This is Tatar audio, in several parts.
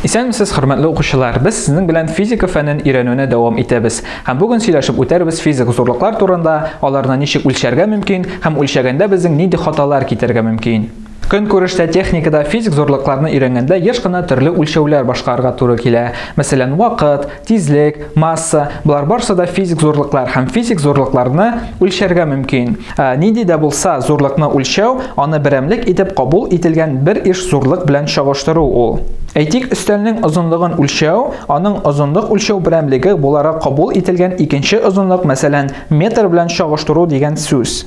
Исәнмесез, хөрмәтле укучылар! Без сезнең белән физика фәнен өйрәнүне дәвам итәбез. Һәм бүген сөйләшеп үтәрбез физик зурлыклар турында, аларны ничек үлчәргә мөмкин һәм үлчәгәндә безнең нинди хаталар китерергә мөмкин. Көнкүрештә, техникада физик зурлыкларны өйрәнгәндә еш кына төрле үлчәүләр башкарырга туры килә. Мәсәлән, вакыт, Тизлек, масса, болар барсы да физик зурлыклар һәм физик зурлыкларны үлчәргә мөмкин. Ә, нинди дә булса зурлыкны үлчәү, аны берәмлек итеп кабул ителгән бер иш зурлык белән чагыштыру ул. Әйтик, өстәлнең озынлыгын үлчәү, аның озынлык үлчәү берәмлеге буларак кабул ителгән икенче озынлык, мәсәлән, метр белән чагыштыру дигән сүз.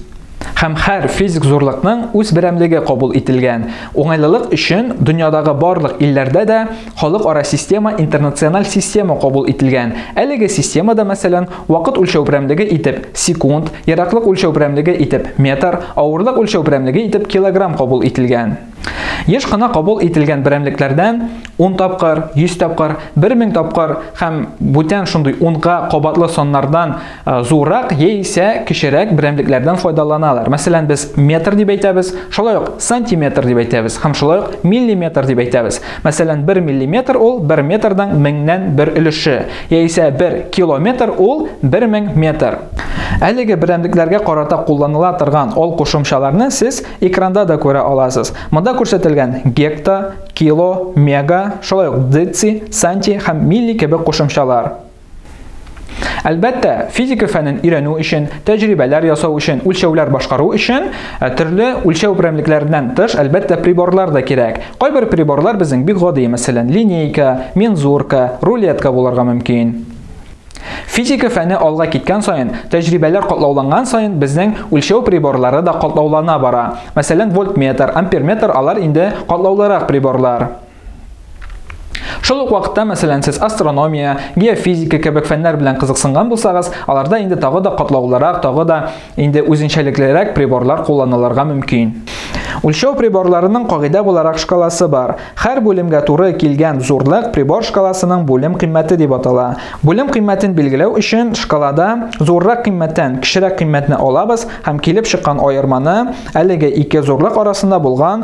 Һәм һәр физик зурлыкның үз берәмлеге кабул ителгән. Уңайлылык өчен дөньядагы барлык илләрдә дә Халыкара система интернациональ система кабул ителгән. Әлеге системада, мәсәлән, вакыт үлчәү прәмлеге итеп секунд, ераклык үлчәү прәмлеге итеп метр, авырлык үлчәү прәмлеге итеп килограмм кабул ителгән. Еш кына кабул ителгән берәмлекләрдән 10 тапкыр, 100 тапкыр, 1000 тапкыр һәм бүтән шундый унга кабатлы саннардан Э, зуррак яисә кечерәк берәмлекләрдән файдаланалар. Мәсәлән, без метр дип әйтәбез, шулай ук сантиметр дип әйтәбез һәм шулай ук миллиметр дип әйтәбез. Мәсәлән, 1 миллиметр ул 1 метрның меңнән бер өлеше, яисә 1 километр ул 1000 метр. Әлеге берәмлекләргә карата кулланыла торган ал кушымчаларны сез экранда да күрә аласыз. Монда күрсәтелгән гекта, кило, мега, шулай ук деци, санти һәм милли кебек кушымчалар. Әлбәттә, физика фәнен өйрәнү өчен, тәҗрибәләр ясау өчен, үлчәүләр башкару өчен э, төрле үлчәү берәмлекләреннән тыш, әлбәттә, приборлар да кирәк. Кайбер приборлар безнең бик гади, мәсәлән, линейка, мензурка, рулетка булырга мөмкин. Физика фәне алга киткән саен, тәҗрибәләр катлауланган саен безнең үлчәү приборлары да катлаулана бара. Мәсәлән, вольтметр, амперметр алар инде катлаулырак приборлар. Шул ук вакытта, мәсәлән, сез астрономия, геофизика кебек фәннәр белән кызыксынган булсагыз, аларда инде тагы да катлаулырак, тагы да инде үзенчәлеклерәк приборлар кулланылырга мөмкин. Үлчәү приборларының кагыйдә буларак шкаласы бар. Хәр бүлемгә туры килгән зурлык прибор шкаласының бүлем кыйммәте дип атала. Бүлем кыйммәтен билгеләү өчен шкалада зуррак кыйммәттән кечерәк кыйммәтне алабыз һәм килеп чыккан аерманы әлеге ике зурлык арасында булган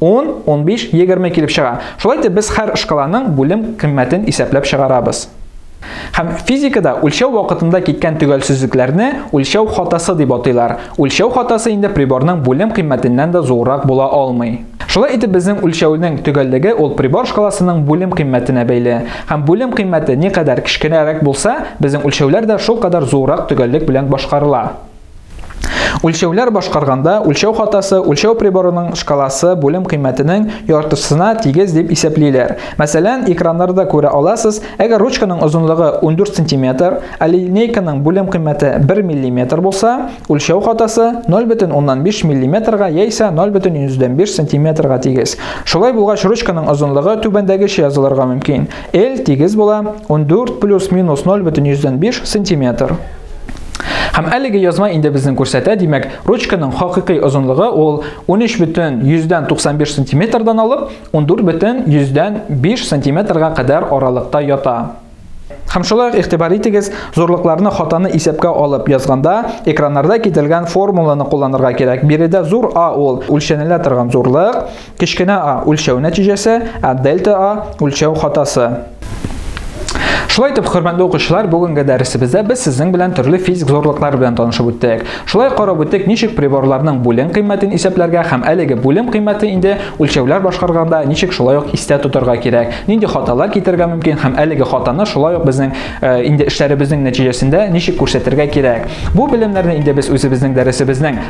10, 15, 20 килеп чыга. Шулай итеп без һәр шкаланың бүлем кыйммәтен исәпләп чыгарабыз. Һәм физикада үлчәү вакытында киткән төгәлсезлекләрне үлчәү хатасы дип атыйлар. Үлчәү хатасы инде приборның бүлем кыйммәтеннән дә зуррак була алмый. Шулай итеп безнең үлчәүнең төгәллеге ул прибор шкаласының бүлем кыйммәтенә бәйле. Һәм бүлем кыйммәте никадәр кечкенәрәк булса, безнең үлчәүләр дә шулкадәр зуррак төгәллек белән башкарыла. Үлчәүләр башкарганда үлчәү хатасы үлчәү приборының шкаласы бүлем кыйммәтенең яртысына тигез дип исәплиләр. Мәсәлән, экраннарда күрә аласыз, әгәр ручканың озынлыгы 14 см, ә линейканың бүлем кыйммәте 1 мм булса, үлчәү хатасы 0,5 мм-га яисә 0,5 см-га тигез. Шулай булгач, ручканың озынлыгы түбәндәгечә язылырга мөмкин. L тигез була 14 плюс-минус 0,5 см. Һәм әлеге язма инде безнең күрсәтә, димәк, ручканың хакыйкый озынлыгы ул 13 бөтен 195 сантиметрдан алып 14 бөтен 105 сантиметрга кадәр аралыкта ята. Һәм шулай ук игътибар итегез, зурлыкларны хатаны исәпкә алып язганда, экраннарда кителгән формуланы кулланырга кирәк. Биредә зур А ул үлчәнелә торган зурлык, Кечкенә а үлчәү нәтиҗәсе, ә дельта а үлчәү хатасы. Шулай итеп, хөрмәтле укучылар, бүгенге дәресебездә без сезнең белән төрле физик зорлыклар белән танышып үттек. Шулай карап үттек, ничек приборларның бүлем кыйммәтен исәпләргә һәм әлеге бүлем кыйммәте инде үлчәүләр башкарганда ничек шулай ук истә тотарга кирәк, нинди хаталар китергә мөмкин һәм әлеге хатаны шулай ук безнең э, инде эшләребезнең нәтиҗәсендә ничек күрсәтергә кирәк. Бу белемнәрне инде без үзебезнең дәресебезнең